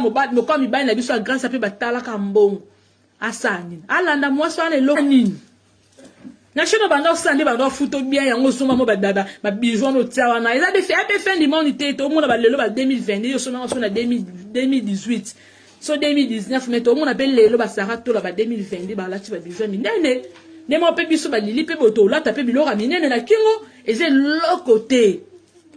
mobali lokola mibali na biso ya grâce mpe batalaka mbongo asala nini alanda mwasi wana eloko nini na shino banda osala nde banda ofuto bien yango osomba mo babiju wana otia wana eza mpe ape fin du monde te tomona balelo ba 2020 nde osomba yango so na 2018 so 2019 me tomona mpe lelo basara tola ba 2020 nde balati babiju ya minene nde moko mpe biso balili mpe boto olata mpe biloko ya minene na kingo eza eloko te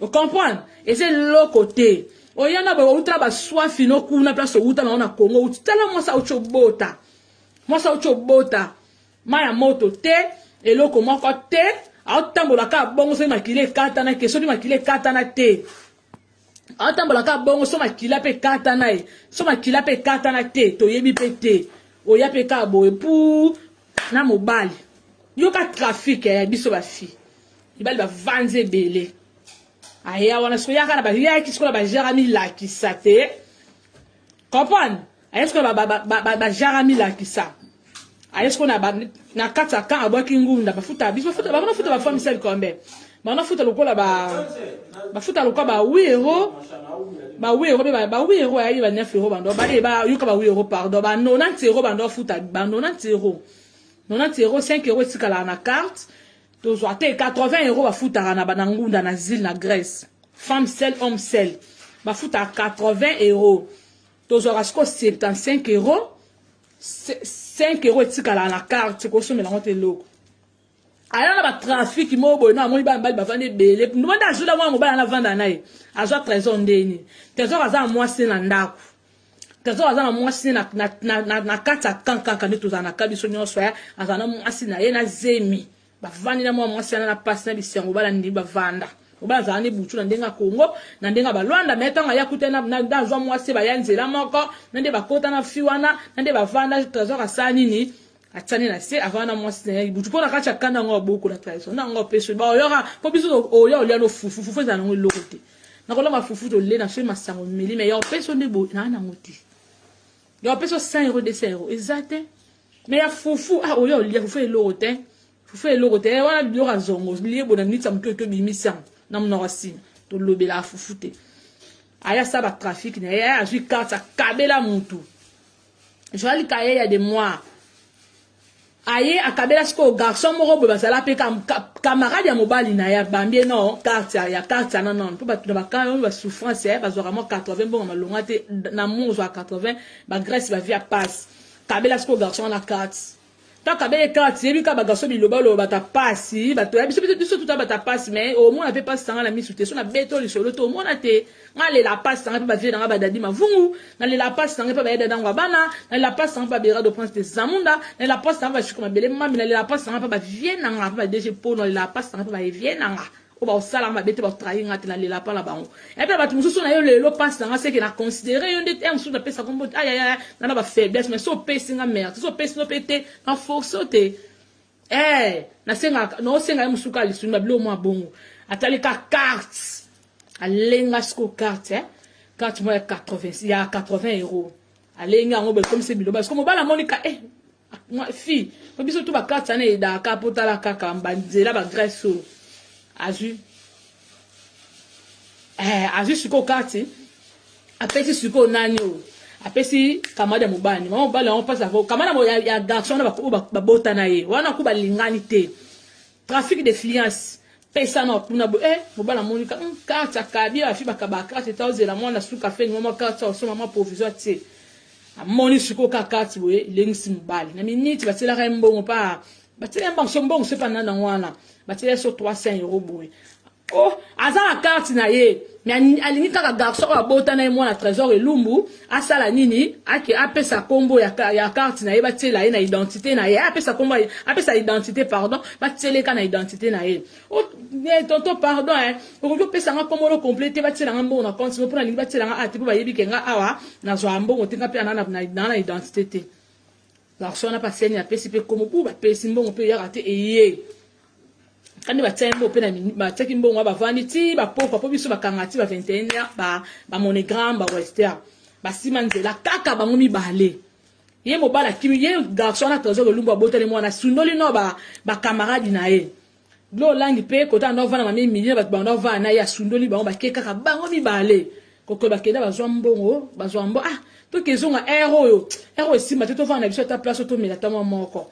ocomprendre eza eloko te oya na boye outa baswafi no kuna place outa nango na congo outi tala mwasi auti obota mwasi auti obota mai ya moto te eloko moko te aotambola kaka bongo soki makila ekatana ke soki makila ekatana te aotambola kaka bongo so makila mpe ekatana ye so makila mpe ekatana te toyebi mpe te oya mpe kaka boye pu na mobali yoka trafike ya biso bafille mibali bavanzi ebele aya wana sikoyo yaka na bayaki sikoyo na bajare amilakisa te comprendre aye sikoyo na bajare amilakisa aye sikoyo na kati ya kan abwaki ngunda bafuta biso bafuta bango nafuta bafua misali kombe bango nafuta lokola bafuta lokola ba wi euro ba wi euro ba wi euro ayaki ba 9 euro bando bale bayoka ba wi euro pardon ba 90 euro bando afuta ba 90 euro 90 euro 5 euro etikalaka na carte tozwa te 80 euro bafutaka na bana ngunda na zile na grèce femme sel homme sel bafutaka 80 euro tozwaka sikoyo 75 euro 5 euro etikalaka na carte kosomela yango te eloko aya na batrafiki moko boye na amoni bana mibali bavandi ebele ndomanda azwi na mwana mobali ana avanda na ye azwa trésor ndeni trésor aza na mwasi na ndako trésor aza na mwasi ne na kati ya kan kaka nde tozala na ka biso nyonso ya azala na mwasi na ye na zemi bavandi na mwa mwasi yana na mpasi na bisango bala ndi bavanda oba azala ni butu na ndenge ya kongo na ndenge ya balwanda me ntango aya kuta nde azwa mwasi baya nzela moko na nde bakota na fi wana na nde bavanda trésor asala nini atiani na se avana na mwasi na ye butu mpo na kati ya kanda yango aboko na trahison na yango apeso baoyoka mpo biso oya olia no fufu fufu ezala nango eloko te nakolamba fufu tole na soki masango meli me ya opeso nde boye naa nango te ya opeso 100 euro 200 euro eza te me ya fufu ah oya olia fufu eloko te fufu eloko te eh, wana biloko ya zongo lie bona nitisa motu oyo tobimisi yango na monoko ya nsima tolobelaka fufu te aya sa batrafic na ye azwi karte akabela motu Joël Kayeya de moi aye akabela sikoyo garçon moko boye bazala mpe camarade ya mobali na ye abambi ye no carte ya carte ya nanone mpo bato na bakaa oyo basouffrance ya bazwaka mwa 80 mbongo malonga te na mo ozwaka 80 bagrèce bavia passe kabela sikoyo garçon wana carte kaka bele kaka tiyebi kaka bagaso bilobaloba bata pasi bato ya biso biso tuta bata pasi mai omona mpe pasi sanga na misu te so na beto lisolo te omona te nga lela pasi sanga mpe bavie nanga badadi mavungu nalela pasi sanga mpe bayeda dango ya bana nalela pasi sanga mpe babera do prince de zamunda nalela pasi sanga bashiko mabele mami nalela pasi sanga mpe bavie nanga mpe badege mpo nalela pasi sanga mpe baevie nanga oyo bakosala mabe te bakotrahi nga te nalela mpa na bango epe na bato mosusu na yo lelo mpasi na nga seke na considere yo nde te mosusu napesa kombo te ayaya nga na bafaiblesse mais so opesi nga merci so opesi no mpe te na force o te e nasengaka naosenga ye mosusu kaka lisuni na biloko mwa bongo atali ka carte alenga siko carte eh? carte mwa ya 80 ya 80 euro alengi yango boye ekomisi biloba siko mobala amonika eh fi po biso tu bakarte sana edaka po tala kaka banzela bagrèce oyo azwi eh, azwi sikoyo karte apesi sikoyo nani oyo apesi kamada mobali mama mobali yango mpasi ako kamada ya garçon wana babota na ye wana ko balingani te Trafic de fliance pesa na kuna bo eh mobala moni ka hmm, carte ya kabi afi bakaba carte ta ozela mwana suka fe ngoma carte osoma ma provisoire tse amoni siko ka carte boye lengisi mobali na minute batielaka ye mbongo pa batiela ye mbongo so mbongo so epa nana wana batiela ye so 300 euro boye oh aza na carte na ye me alingi kaka garçon oyo abota na ye mwana trésor elumbu asala nini ake apesa kombo ya, ya carte na ye batiela ye na identité na ye apesa kombo apesa identité pardon batieleka na identité na ye oh, eh, tonto pardon eh, okoki opesa nga kombo lo complet te batiela nga mbongo na compte mpo nalingi batiela nga ate mpo bayebi ke nga awa nazwa mbongo te nga mpe ana na identité te garçon wana mpe aseni apesi mpe kombo mpo bapesi mbongo mpe eyaka te eye kandi batia ye mbongo mpe na batiaki mbongo bavandi ti bapokwa mpo biso bakanga ti ba 21 heure bamonogramme ba, ba wester basima nzela kaka bango mibale ye mobali akimi ye garçon wana trésor lolumbu abotali mwana asundoli no bakamaradi ba na ye blo olangi mpe kota anda ovanda mami emilie bato banda ovanda na ye asundoli bango bake kaka bango mibale kokolo bakenda bazwa mbongo bazwa mbo ah tokezonga ere oyo ere oyo esimba te tovanda na biso ata place otomela ntango moko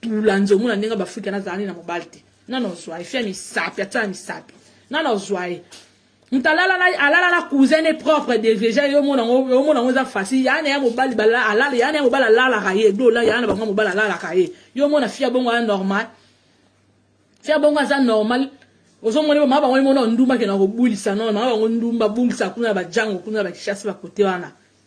tula nze omona ndenge bafrika nazala nde na mobali te nana ozwa ye fi ya misapi atia na misapi nana ozwa ye moto alala na cousin ne propre deja yo omona yango eza facile yana ya mobali alala yana ya mobali alalaka ye dola yana bango mobali alalaka ye yo omona fi ya bongo aza normal fi ya bongo aza normal ozomoni mama bango emona ndumba kena kobulisa nono mama bango ndumba bulisa kuna na bajango kuna na bakishasi bakote wana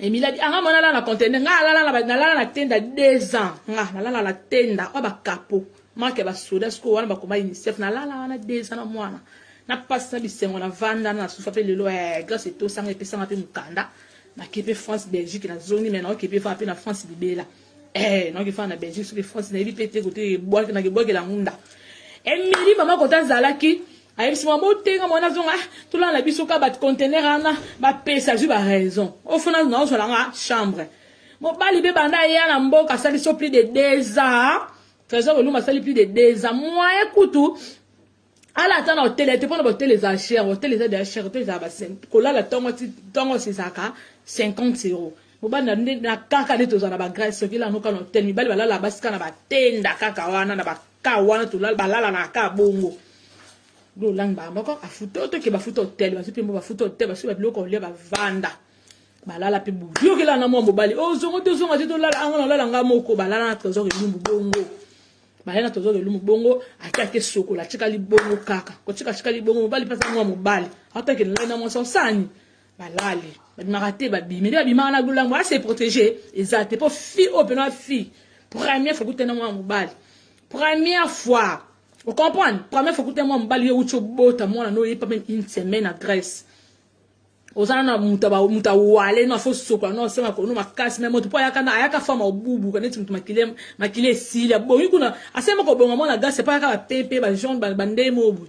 emiladi anga ah, mwana alala na contener nga alala na nalala na tenda 2 ans nga nalala na tenda oyo bakapo marke basoda sikoyo wana bakoma unicef nalala wana 2 ans na mwana napasisa bisengo na vanda na sufa mpe lelo eh, grace etosanga epesanga mpe mokanda nakepe france belgique nazongi me naokepe faa mpe na france libela eh non kifana na Belgique sur France na yebi pete kote bwaki na kibwaki la ngunda Emily mama kota zalaki ayebisi mwa botenga mwana zonga ah, tolala na biso ka bacontener wana bapesa azwi baraison ofona na ozwala nga chambre mobali mpe banda aya na mboka asali so plus de deux ans trésor oluma asali plus de deux ans moye kutu ala ata na hotel ete mpona bahotel ezala cher hotel eza deja cher hotel ezala kolala ntongo ti ntongo ezalaka 50 euro mobali na kaka nde tozala na bagrèce soki elano kaka na hotel mibali balala basi kaka na batenda kaka wana na baka wana balala na kaka bongo lolangi baa moko afuta oyo toke bafuta hotel bazwi mpe mbo bafuta hotel basuki babiloko olia bavanda balala mpe boyokelana mwa mobali ozongo oh, tozonga te tolala ango na olala nga moko balala na trésor elumbu bongo bayaka tozo lelo mobongo ake ake sokola atikali bongo kaka kotika atikali bongo mobali mpe aza mwa mobali atake ngai na mwasi osani balali babimaka te babimi nde babimaka na lolango ase protege eza te mpo fi oyo mpena wa fi première fois kutena mwa mobali première fois ocomprendre première fois kutena mwa mobali yo euti obota mwana no oyepa meme une semaine na grèce oza na muta ba muta wale no afo sokola no asema kono makasi mais moto po ayaka na ayaka fama obubu kana ti moto makile makile esili abongi kuna asema ko bonga mwana gasi pa yaka ba pepe ba jaune ba bande mobu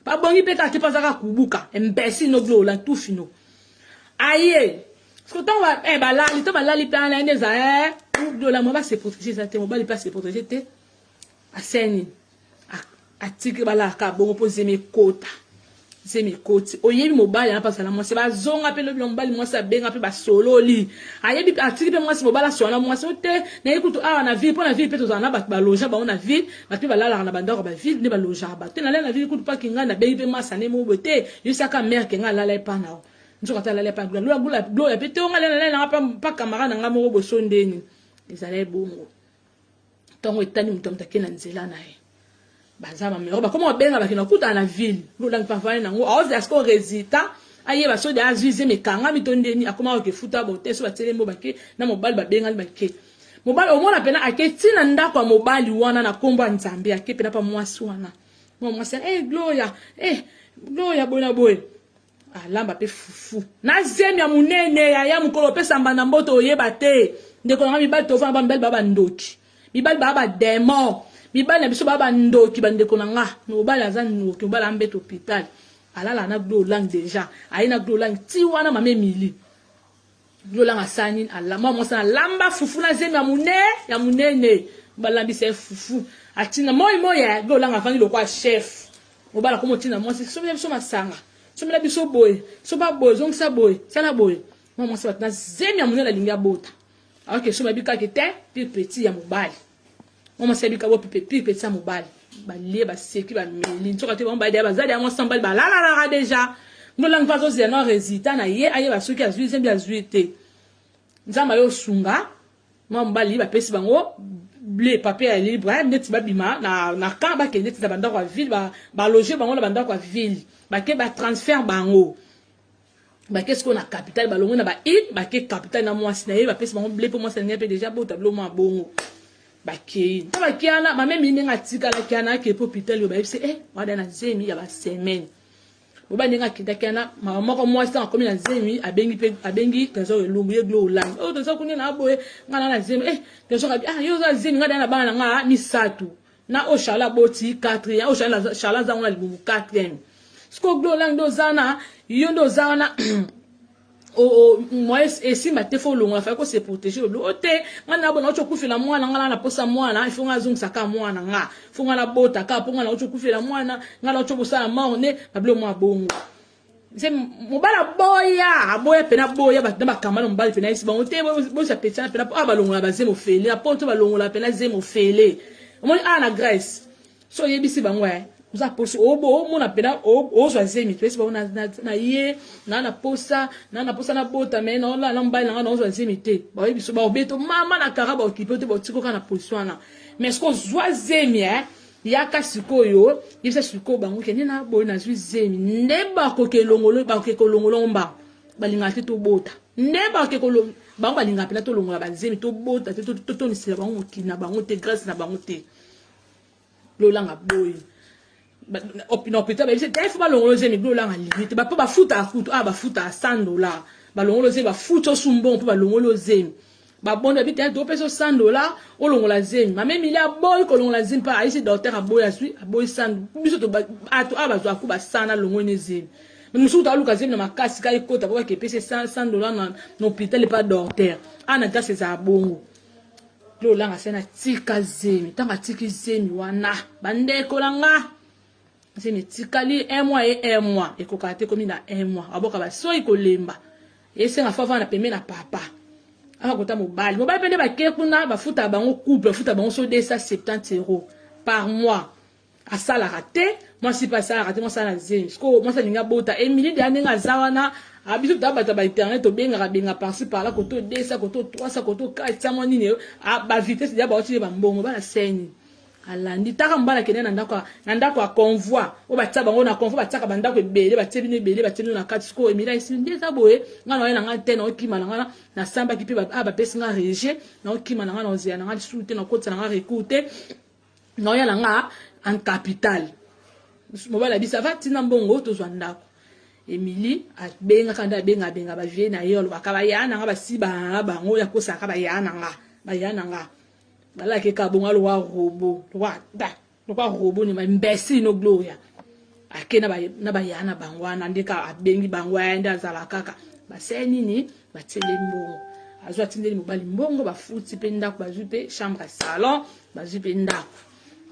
ba bongi pe kati pa zaka kubuka imbécile no glo la tout fino aye siko tango ba eh balali to balali pe ana ende za eh glo la mo ba se protéger za te mo bali pa se protéger te aseni atiki balaka bongo mpo zemi ekota zemi ekoti oyebi mobali wana mpasa na mwasi bazonga mpe lobi na mobali mwasi abenga mpe basololi ayebi atiki mpe mwasi mobali asola na mwasi o te nayebi kutu awa na ville mpo na ville mpe tozala na bato baloja bango na ville bato mpe balalaka na bandako ba ville nde balojaka bato te nalala na ville kutu mpaki ngai nabengi mpe masa ne mobo te yosaka mare ke ngai alala epa nao nzoka ata alala epa glola glola gloya mpe te onga alala nanga mpa kamara na ngai moko boso ndeni ezala ebongo ntango etani moto ya moto ake na nzela na ye baza bamero bakoma kobenga bakenda kokutana na ville lolangi pavane nango aozela siko résultat ayeba so de azwi zemi ekangami to ndeni akoma koke futa bote so batelemi bake na mobali babengani bake mobali omona mpena ake ti na ndako ya mobali wana na nkombo ya nzambe ake mpena mpa mwasi wana mwa mwasi e eh, gloria e eh, gloria boye na boye alamba pe fufu na zemi ya munene ya ya mukolo pe samba na mboto oyeba te ndeko na ngai mibali tofana ba mibali ba bandoki mibali ba ba demon mibali na biso ba bandoki bandeko na nga mobali aza ndoki mobali ambeta hopital alala na glolang deja aye na glolang ti wana mama emili lolanga sani alamba mwasi na lamba fufu na zemi ya mune ya munene balambisa ye fufu atina moi moi ya lolanga afandi lokola chef mobala komo tina mwasi somela biso masanga somela biso boye soba boye zongisa boye sala boye mwa mwasi batina zemi ya munene alingi abota aoke soba bikaki te mpe petit ya mobali mama sabi kabo pipe pipe tsa mobali balie baseki bameli nsoka te bango balia bazali yango sambali balalalaka deja ndolangi mpe azozela na resultat na ye ayeba soki azwi zembi azwi te nzambe ayo osunga mwa mobali bapesi bango ble papier ya libre neti babima na, na camp bakende ti na bandako ya ville baloge ba bango na bandako ya ville bake batransfert bango bake sikoyo na capital balongwe na baile bake capital na mwasi na ye bapesi bango ble mpo mwasi alingai mpe deja bota bilo mwa bongo bakei nta bakei wana bamemi ndenge atikalaki wana akei mpo hopital oyo bayebisi e eh, wada na zemi ya basemaine boba ndenge akendaki wana mama moko mwasi ntango akomi na zemi abengi mpe abengi trésor elumbu ye glo olandi oyo oh, trésor kuni na aboye ngai na na zemi e eh, trésor abi ah yo oza zemi ngai daya na bana na ngai ah, misato na oyo charle aboti 4 ya oyo charle aza ngo na libumu 4 sikoyo glo olangi nde oza na yo nde oza wana moye esimba te fo olongola fai kose protege olobi o te nga nabona auti okufela mwana nga na naposa mwana ifo nga azongisa kaka mwana nga fo nga nabota kaka mpo nga nauti okufela mwana nga nauti okosala mort nde babilo mwa bongo nse mobali aboya aboya mpena boya na bakamba na mobali mpena yesi bango te bosa petana mpena awa balongola bazemo fele na poto balongola mpena zemo fele omoni awa na grèce so oyebisi bango e oza posi omona mpena ozwa zemi toyesi bango na ye naa na posa naa na posa nabota me naolala na mobali na ngai naozwa zemi te baoyebiso baobeto mama na kara baokipe te baotikoka na posi wana mais soki ozwa zemi e yaka sikoyo yebisa sikoyo bango kende na boye nazwi zemi nde bakoki elongolo bakoki kolongolo mba balingaka te tobota nde bakoki kolongo bango balingaka mpena tolongola bazemi tobota te totonisela bango mokili na bango te grâce na bango te lolanga boye na hôpital bayebisi te fo balongolo zemi lolanga lingi te bapo bafutaka kutu a ah, bafutaka 100 dollar balongolo zemi bafuti osumbongo mpo balongoli ozemi babondo abi te topesa 100 dollar olongola zemi mame emili aboyi kolongola zemi mpa ayisi docteur aboyi azwi aboyi 100 biso bato awa bazwa akuba 100 na longoi ne zemi mosusu taluka zemi na makasi ka ekota po bake epesi 100 dollar na hôpital epa docteur ana ntasi ezala bongo lolanga se na tika zemi ntango atiki zemi wana bandeko na nga nsemi etikali un mois ye un mois ekokaka te komi na un mois aboka basoi kolemba esenga fo avanda pembe na papa aka kota mobali mobali mpe nde bake kuna bafutaka bango couple bafutaka bango so 270 euro par mois asalaka te mwasi mpe asalaka te mwasi na zemi sikoyo mwasi alingi abota emili deya ndenge aza wana abiso ah, tobata ba internet tobengaka benga parci parla koto 200 koto 300 koto 400 mwa nini ah, bavitesse deya baotile bambongo bana seni alandi taka mbala akende na ndako na ndako ya convoi oyo batia bango na convoi batiaka bandako ebele batie bino ebele batie bino na kati sikoyo emila esili nde eza boye ngai naye na ngai te naokima na ngai nasambaki mpe ah, bapesi ngai rejet naokima na ngai naozela na ngai lisusu te nakotisa na ngai recours te naoya na ngai en capital mobali abisa va ntina mbongo tozwa ndako emili abengaka nde abenga abenga bavie na ye alobaka baya na ngai basi bango yakosaka baya na ngai baya na ngai balaki ka bonga lowa robo lowa da lowa robo ni imbécile no gloria ake na baya na bango wana nde ka abengi bango aya nde azala kaka baseye nini batieli mbongo azwi atindeli mobali mbongo bafuti mpe ndako bazwi mpe chambre ya salon bazwi mpe ndako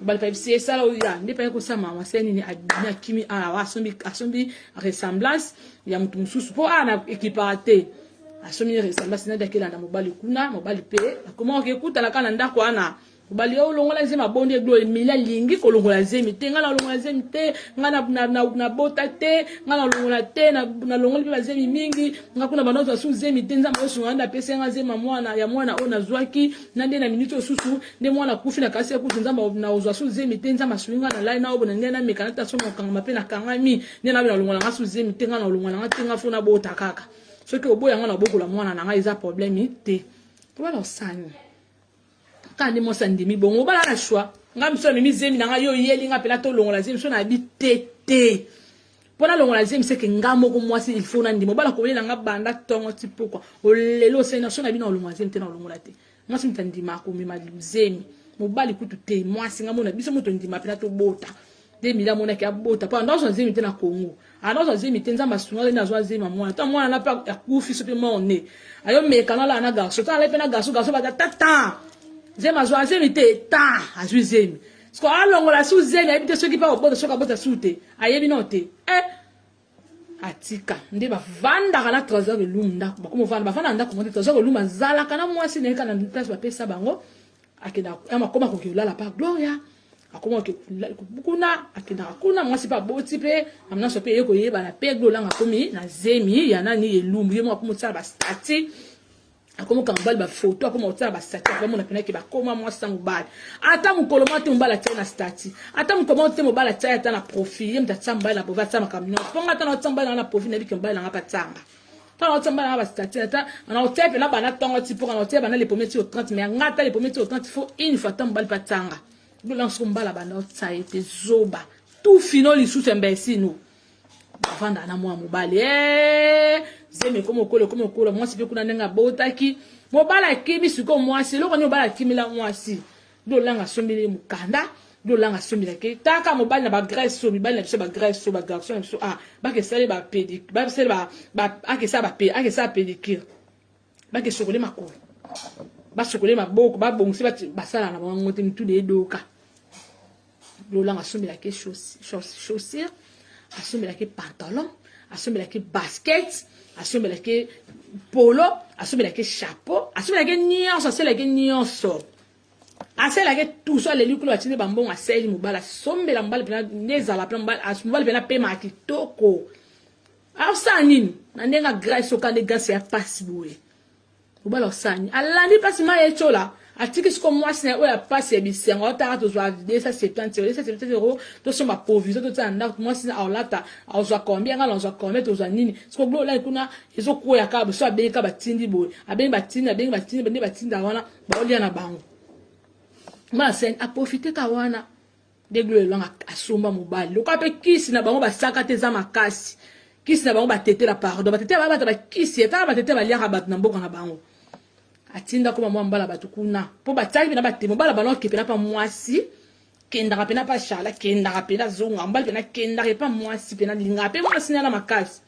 bali pa bisi esala oyo ya nde paya kosala mama se nini abimi akimi awa asombi asombi ressemblance ya moto mosusu mpo awa na ekipaka te asombi ressemblance nadi akelanda mobali kuna mobali mpe akomaka kekutana kaka na ndako wana bali yo olongola zemi abondi eglo emeli alingi kolongola zemi te ngai nalongola zemi te ngai nabota te ngai nalongola te nalongoli mpe bazemi mingi ngai kuna banda ozwa su zemi te nzambe osunga nde apesi ngai zemi ya mwana oyo nazwaki na nde na miniti osusu nde mwana akufi na kasi akufi nzambe naozwa su zemi te nzambe asui ngai nalali na obona ngai nameka nata somo okangama mpe nakangami nde nabe nalongwa na ngai su zemi te ngai na olongwa na ngai te ngai fo nabota kaka soki oboya ngai nabokola mwana na ngai eza probleme te tobala osani kaka nde mwasi andimi bongo obala na shwa ngai miso amemi zemi na ngai yo oyeli ngai mpena tolongola zemi so nayebi te te mpo nalongola zemi seke ngai moko mwasi ilfo nandima obala kolela ngai banda ntongo ti pokwa olelo osali na so na bino olongola zemi te na olongola te mwasi moto andima akomema luzemi mobali kutu te mwasi nga mona biso moto ndima mpena tobota nde mila amonaki abota mpo anda azwa zemi te na congo anda azwa zemi te nzambe asunga nde azwa zemi ya mwana to mwana na mpe akufi so mpe morne ayo mekana alaa na garso to alai mpe na garso garso bata tata zemi azwa zemi te ta azwi zemi siko alongola su zemi ayebi te soki mpe akobota soki abota su te ayebi nao te eh atika nde bavandaka na trésor elumu ndako bakoma vanda bavanda na ndako moko te trésor elumu azalaka na mwasi na ye kaka na place bapesa bango akendaka akoma koki kolala pa gloria akoma kuna akendaka kuna mwasi mpe aboti mpe amnaso mpe eye koyebana mpe glolanga akomi na zemi ya nani elumbu ye moko akomi osala bastati akoma kanga mobali bafoto akoma kotala bastati akoma mona penaki bakoma mwasi na mobali ata mokolo moko te mobali atyai na stati ata mokolo moko te mobali atyai ata na profil ye moto atya mobali na profil atya makambo nyonso mpo nga ata na atya mobali nanga na profil nayebi ke mobali nanga patyanga ntango naotya mobali nanga bastati ata naotya mpe na bana ntango ati mpo naotya bana le premier ti au 30 mai nga ata le premier ti au 30 fo une fois ata mobali patyanga lolanso mobali abanda otya ye te zoba tu fino lisusu imbecile no bavanda na mwa mobali eh, zemi ekoma okola ekoma okola mwasi mpe kuna ndenge abotaki mobali akimi sikoyo mwasi eloko nini mobali akimila mwasi nde olanga asombeli mokanda nde olanga asombelaki taka mobali na bagrèce oyo mibali na biso bagrèce oyo bagarçon na biso ah, bakesali bapedikesala bapedikire bake sokole makolo basokole maboko babongisi basala na bango te mituda edoka lolanga asombelaki chaussure asombelaki pantalon asombelaki basket asombelaki polo asombelaki chapeau asombelaki nyonso aselaki nyonso asalelaki tuso aleli kolo atindi bambongo asaleli mobali asombela mobali mpena nde ezala mpena mobali mpena pema kitoko Asala nini? Na ndenge agresse okande gasi ya pasi boye. Obala osani. Alandi pasi ma ye chola. Atiki siko mwasi na oyo ya pasi ya bisengo otaka tozwa 270 euro 270 euro tosomba provision totia na ndako mwasi na aolata aozwa combien ngala ozwa combien tozwa nini siko glo olai kuna ezokwea kaka boso abengi kaka batindi boye abengi batindi abengi batindi bande batinda wana baolia na bango mwana sen aprofite ka wana deglo elanga asomba mobali lokola mpe kisi na bango basaka te eza makasi kisi na bango batetela pardon batetela bango bato bakisi etala batetela baliaka bato na mboka na bango atinda koma mwa mbala bato kuna mpo batiaki mpena batema mobala bana oke mpena mpa mwasi kendaka mpena mpa charla kendaka mpena zonga mbali mpena kendaka epa mwasi mpena lingaka mpe mwasi nana makasi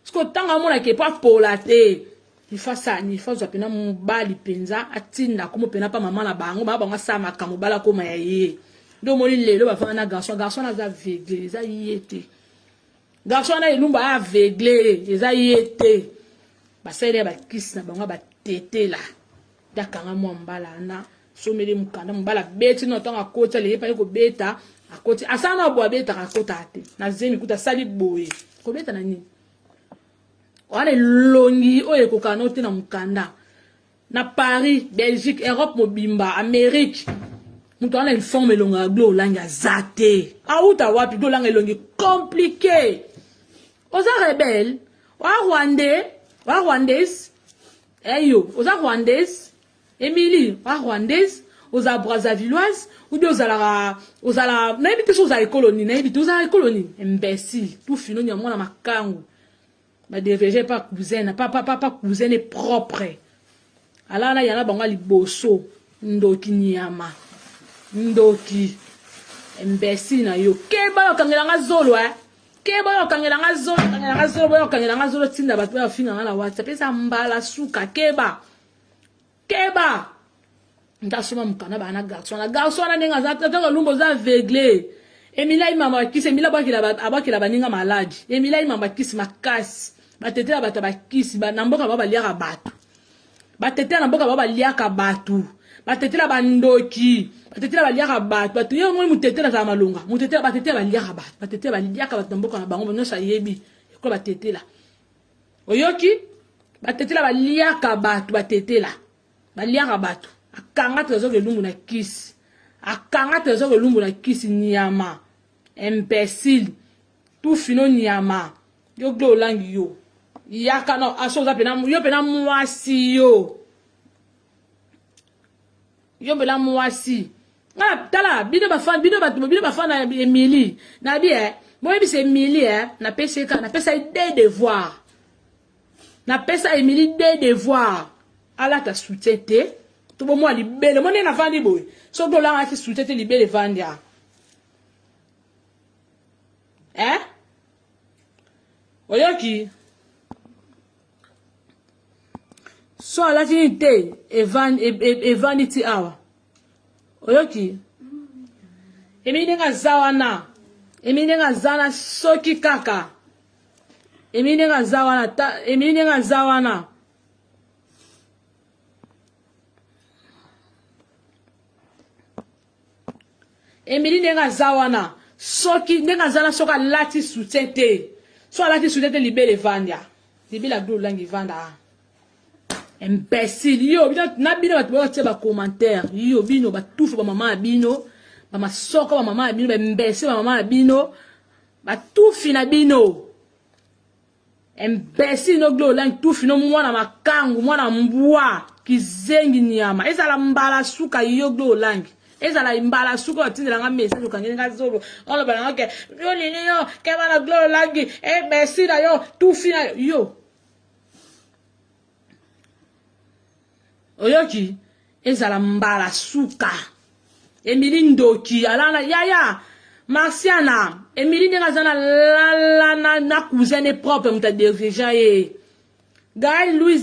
siko ntango amonake mpo apola te ifa sani ifa ozwa mpena mobali mpenza atinda akomo mpena mpa mama na bango baa bango asala makambo bala akoma ya ye nde omoni lelo bafanda na garçon garçon wana aza aveugle eza ye te garçon wana elumba aya aveugle eza ye te basaleli ya bakisi na bango batetela nde akanga mwa mbala wana someli mokanda mobali abeti no ntango akoti alei mpani kobeta akoti asala na bo abetaka akotaka te na zemi kuta asali boye kobeta na nini wana elongi oyo ekokana no te na mokanda na paris belgique europe mobimba amérique moto wana informe elongo ya glo olangi aza te awuta wapi glo olanga elongi komplike oza rebele oa rwandais oa rwandais eyo oza rwandais Emily, a rwandaise, oza brazzavilloise, ou bien ozalaka ozala nayebi te so ozala ekolo nini, nayebi te ozala ekolo nini, imbécile, tout fino nya mwana makangu. Ba deveje pa cousin, pa pa pa, pa cousin est propre. Ala na yana bango liboso, ndoki nyama. Ndoki. Imbécile na yo. Keba okangela nga zolo eh. Keba okangela nga zolo, okangela nga zolo, boyo okangela nga zolo tinda bato ba finga nga na WhatsApp. Esa mbala suka keba. keba ndasoma mukana bana garçon na garçon na ndenge aza tata lumba oza aveugle emila imama bakisi emila abakela baninga maladi emila imama bakisi makasi batetela bato ya bakisi na mboka bao baliaka bato batetela na mboka bao baliaka bato batetela bandoki batetela baliaka bato bato ye omoi motetela azala malonga motetela batetela baliaka bato batetela baliaka bato na mboka na bango nyonso ayebi ekola batetela oyoki batetela baliaka bato batetela baliaka bato akanga trésor elumbu na kisi akanga trésor elumbu na kisi nyama imbécile tufino nyama yo glo olangi yo yaka no aso oza pena yo pena mwasi yo yombela mwasi ah, tala bino bafana bino bato bino bafana ya emili nabi e eh, boyebisa emili e eh, napesi eka napesa ye de devoir napesa emili de devoir alata soutien te to bomwa libele mo ndenge navandi boye soki olangaki soutien te libele evandi a eh? oyoki so alati nini te evandi ti awa oyoki emini ndenge aza wana emini ndenge aza wana soki kaka emini ndenge aza wana emini ndenge aza wana Emily ndenge aza wana soki ndenge aza na soki alati soutien te so alati soutien te libele evanda libele abdul olangi evanda ah. imbécile yo bino na bino bato boyo batia bacommentaire yo bino batufu bamama ya bino bamasoko bamama ya bino baimbécile bamama ya bino batufi na bino imbecile no glo lang tufi no mwana makangu mwana mbwa kizengi nyama ezala mbala suka yo glo lang ezala mbala suka batindela nga message okangeli nga zolo oloba na ngoke yo nini yo keba na glo lang imbecile yo tufi na yo oyoki ezala mbala suka emili ndoki alala yaya marsiana emili ndenge aza na lala na, na cousin ne propre moto adirigea ye gael louis